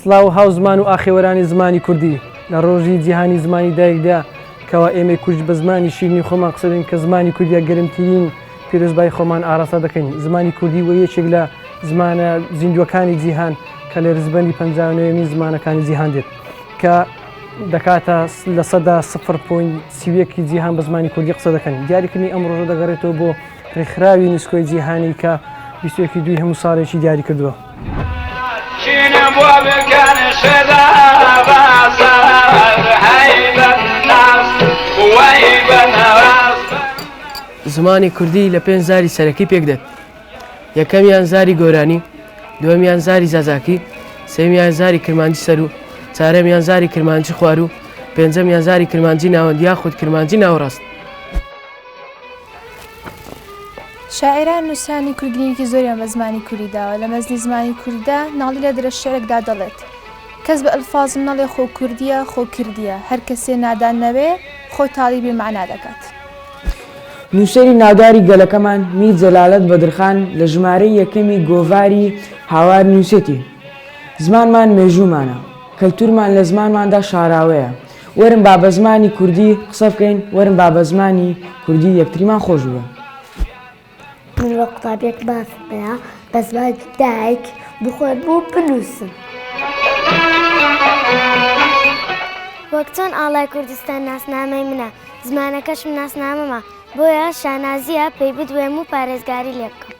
سڵاو و هاوزمان و ئاخێوەرانی زمانی کوردی لە ڕۆژی جیهانی زمانی دایکدا کەوا ئێمەی کورد بە زمانی شیرنی خۆمان قسەدەین کە زمانی کوردیا گەرمترین پیرۆزبای خۆمان ئاراستە دەکەین زمانی کوردی و یەکێک لە زمانە زیندووەکانی جیهان کە لە رزبەندی پنجاوێمی زمانەکانی جیهان دێت کە دەکاتە لە سەدا سفر پوین سیویەکی جیهان بە زمانی کوردی قسە دەکەن دیاریکردنی ئەم ڕۆژە دەگەڕێتەوە بۆ ڕێکخراوی نوسکۆی جیهانی کە بیستوەکی دوی هەموو ساڵێکی دیاری کردووە. زمانی کوردی لە پێنج زاری سەرەکی پێکدێت یەکەمیان زاری گۆرانی، دووەمیان زاری زازاکی، سێمیان زاری کرمانجی سەر و چارەمیان زاری کرمانجی خوار و پێنجەمیان زاری کرمانجی ناوەند یاخود کرمانجی ناوەڕاست. شاعیران، نووسانی کورد گرینگیی زۆریان بە زمانی کوردی داوە. لە مەزنی زمانی کوردیدا، نالی لە درەشعرێکدا دەڵێت، کەس بە ئەلفازم نەڵێ خۆ کوردییە، خۆ کردییە. هەر کەسێ نادان نەوێ، خۆ تاڵی بێ مەعنا دەکات. نووسەری ناوداری گەلەکەمان میر جەلالەت بەدرخان لە ژمارەی یەکەمی گۆڤاری هاوار نووسێتی، زمانمان مێژوومانە، کەلتوورمان لە زمانماندا شاراوەیە، وەرن با بە زمانی کوردی قسە بکەین، وەرن با بە زمانی کوردی یەکتریمان خۆش بوێن. من وەک قوتابیەک مافم هەیە بە زمانی دایک بخۆێنم و بنووسم. وەک چۆن ئاڵای کوردستان ناسنامەی منە زمانەکەشم ناسنامەمە بۆیە شانازیە پێی بدوێم و پارێزگاری لێ بکەم.